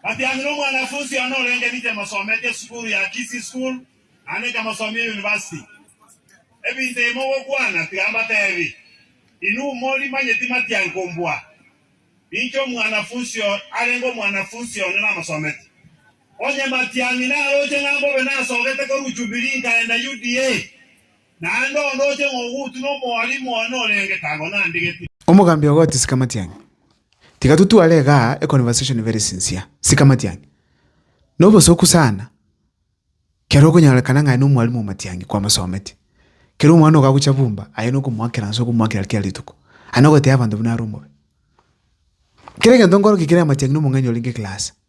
Batianire omwanafunsi one orenge riche mosometi esukuru ya Kisii School naende nkamosomi eyunivasiti. Ebinto ebi mogokwana tiga mbatebi, inwe mori manye timatianku mbua ninche omwanafunsi arenge omwanafunsi one namosometi. Onye matiang'i naroche ng'a mbobe nasogete korwa Jubilee nkaenda UDA, naende ondoche ng'a ogutuna omwalimu one orenge kago nandigeti. Omogambi ogotisika matiang'i. Tiga totware iga econversation very sincere, sika matiang'i. Nobosoku sana kero okonyorekana ng'a aye nomwalimu o matiang'i kwamosometi. Kero omwana okagocha bumba aye nokomoakera nse okomoakera kera rituko. Aye nogotebia abanto buna are omobe. Kera egento nkorokia kere amatiang'i nomong'aini orenge class.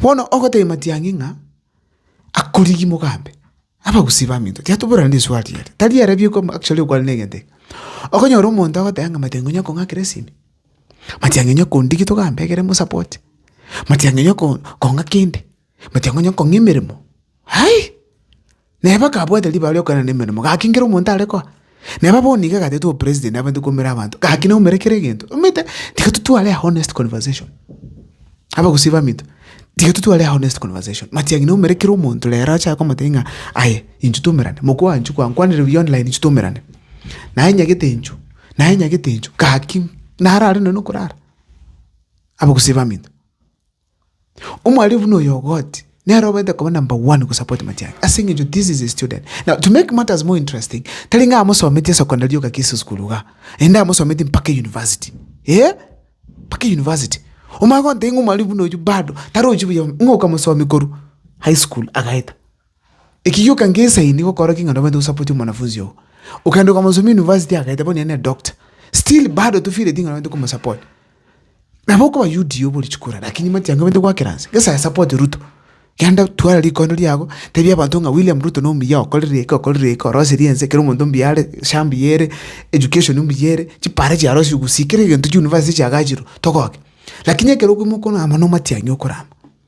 Bono ogotebia matiang'i ng'a akorigi mogambe, abagusii baminto tiyatoborana neswali ere, tari ere bieka amo actually okwane na egento eke. Okonyora omonto agoteba ng'a matiang'i onya kong'akera esimi, matiang'i onya kondigi togambe ekere mosapote, matiang'i onya ko kong'a kende, matiang'i onya kong'a emeremo, aii. Neba akabwate ribaga ri'okoegena nemeremo, gaki nkere omonto are koa. Neba bono nigo agatetwe obopresiden abande koumera abanto, gaki naumere kera egento. Omanyete? Tiga totware a honest conversation. Abagusii baminto, tiga totware a honest conversation. Matiang'i naumere kera omonto rero ache akomotebia ng'a aye inchuo twaumerane, mokwa oa inchuo kwa nkwanire buya online inchuo twaumerane. Naye nyagete inchuo, naye nyagete inchuo, gaki narare nonye nokorara. Abagusii baminto. Omwalimu buna oyo ogoti nere obete koba number one gosupport Matiang'i ase eng'encho this is a student. Now to make matters more interesting, tari ng'a amosometie secondary yoka kisi school igaa, naende amosometie mpaka university, eeh mpaka university. Omanye gontebia ng'a omwalimu buna oyio bado tarochi buya ng'a okamosomia korwa high school agaeta. Ekegioka ngesaini gokorokia ng'a nobwate gosapoti omwanafunzi oo. Okagenda okamosomia university agaeta bono nere doctor, still bado tofeelingi ng'a nobwate komosapoti. Nabo okoba UDA obe ore chikura lakini matiang'i obwate goakera nse. Ngesae asapoti Ruto, genda twara rikondo riago, tebia abanto ng'a William Ruto nomuya okorire eke okorire eke oroserie ense kera omonto mbuya are, SHA mbuya ere, education mbuya ere, chipara chiarosiwu gusii kera egento chiuniversity chiagachirwe, togoke. Lakini ekero okoimoka amo nomatiang'i okorama.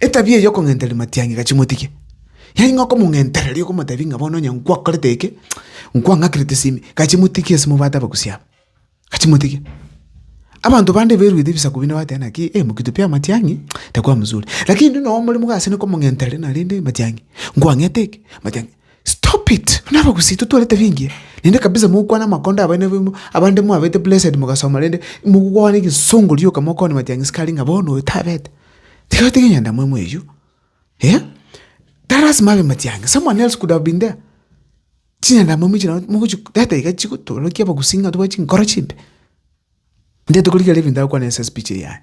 Etabia eye y'okong'entereri matiang'ika chimotike. Yaani ng'a okomong'entereria okomotebi ng'a bono onye nkwakorete eke, nkwang'akire tisimi, gachimotike ase mobwate abagusi aba, gachimotike. Abanto bande beruete ebisaku binde bateba naki eh mokito pi amatiang'i takwa mosuri. Lakini ndiri noo omoremo iga ase ne komong'entereri narende matiang'i, nkwang'ete eke, matiang'i. Stop it! Buna abagusi totware etabia engiya. Naende kabisa mogokwana amakondo abaina baino abande mwabete blessed mogasoma rende mogokwana egesongo rioka mokwane matiang'i sikari ng'a bono oyo tabete. Tiga otige enyandamwamu eyio, eh, tari lasima abe matiangi, someone else could have been there. Chinyandamwamu echi nabo mogochi data iga chigotorokia abagusii ng'a tobwate chinkoro chimbe. Inche tokorigera ebinto agokwana ase speech eye yane,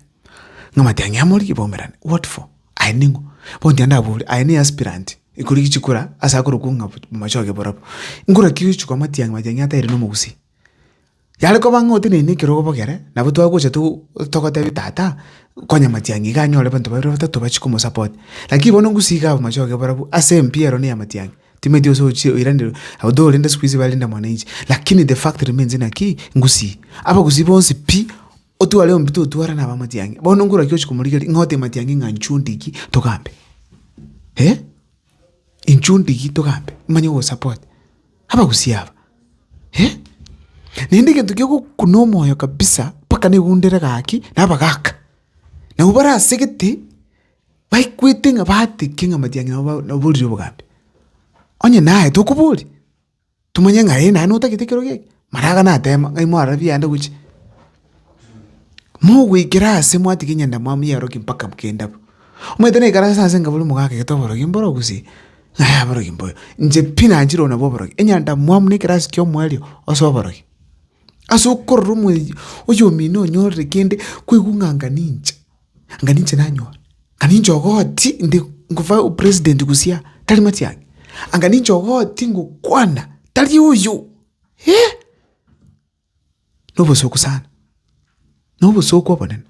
ng'a matiang'i amo rigia baumerane, what for? Aye ning'o? Bono tiga ndabori, aye ne aspirant ekorigia chikura ase akorokwo ng'a machoge borobwo, nkura ki ochi koa matiang'i matiang'i ataeire nomogusii? Yare koba ng'a oteneine ekerogo bogere, nabo twagocha togotebia tata, konya matiang'i iga anyore abanto babere batato bachie komosapoti. Lakini bono ngusii iga amachoge barabwo ase empira ero na eya matiang'i, timanyeti gose ochie oiranereria abwo torende siku hizi barenda mwananchi. Lakini the fact remains naki, ngusii. Abagusii bonsi pi, otware omobato otware na aba matiang'i. Bono ngura ki ochia komorigereria ng'a ote matiang'i ng'a inchuo ndiki togambe? Eh? Inchuo ndiki togambe? Nimanye ogosapoti. Abagusii aba, eh! Naende egento kegokuna omoyo kabisa mpaka negundere gaki nabagaka. Nabo bare asegete baikwete ng'a batiki ng'a matiang'i nabo naborire obogambi. Onye naye tokobori, tomanye ng'a eh naye notagete ekerogo eke, maraga natema ng'ai mwarora biaenda gochia. Mogoikera aase mwatiga enyandamwamu y'abarokia mpaka kende abwo. Omanyete naikaranse ase engaburu mogakegete oborokia mboro gose, ng'ai aborokia mboyo. Inche pi nanchire oyo nabwo oborokia. Enyandamwamu ne ekerasi kia omoerio ase oborokia. Ase okorora omoerio oyomino onyorire kende kwaigwa ng'a anga ninche, anga ninche nanyora, anga ninche ogoti inde ngofa opresident gose aa, tari matiang'i. Anga ninche ogoti ngokwana, tari oyoo, eh. nobosuku sana, na obosuku obonene,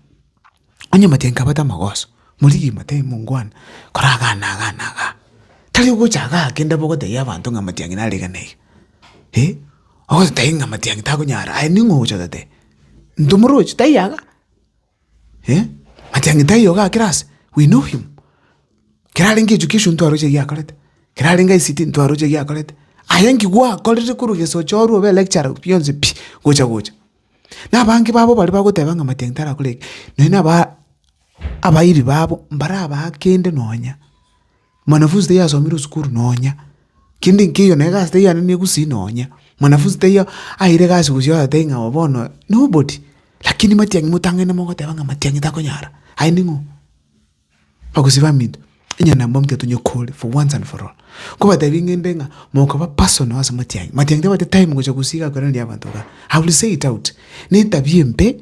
onye matenke abate amagoso, morigi mate mongwana, kora igaa na igaa na igaa, tari ogocha igaa kende bobe otebia abanto ng'a matiang'i nare iga na iga, eh, ogototebi ng'a matiang'i takonyara aye ning'o ogocha ototebi, ntomoroche taiyo iga. eh, matiang'e taiyo iga kera aase, we know him, kera arenge echukia esio ntwaroche egiakorete, kera arenge ICT ntwaroche egiakorete, aye nki gwakorire korwa egesocho orwe obe lecturer bionsi pi gocha gocha. Na abange babo baria bagoteba ng'a matiang'i tarakore eke, nonya na aba abairi babo mbarabaa kende nonya. Mwanafunzi tayasomire esukuru nonya, kende nkeiyo na egasi tayananirie gusii nonya, mwanafunzi taiyo aeire egasi gosii oyotebi ng'a oo bono nobody, lakini matiang'i motang'aine mogoteba ng'a matiang'i takonyara, aye ning'o? Bagosii baminto, onye na mbaminto tonyakore for once and for all, nkobatebi ng'ende ng'a mokaba personal ase matiang'i, matiang'i tabwati time gocha gosii igakorerania abanto igaa, I will say it out, netabia embe.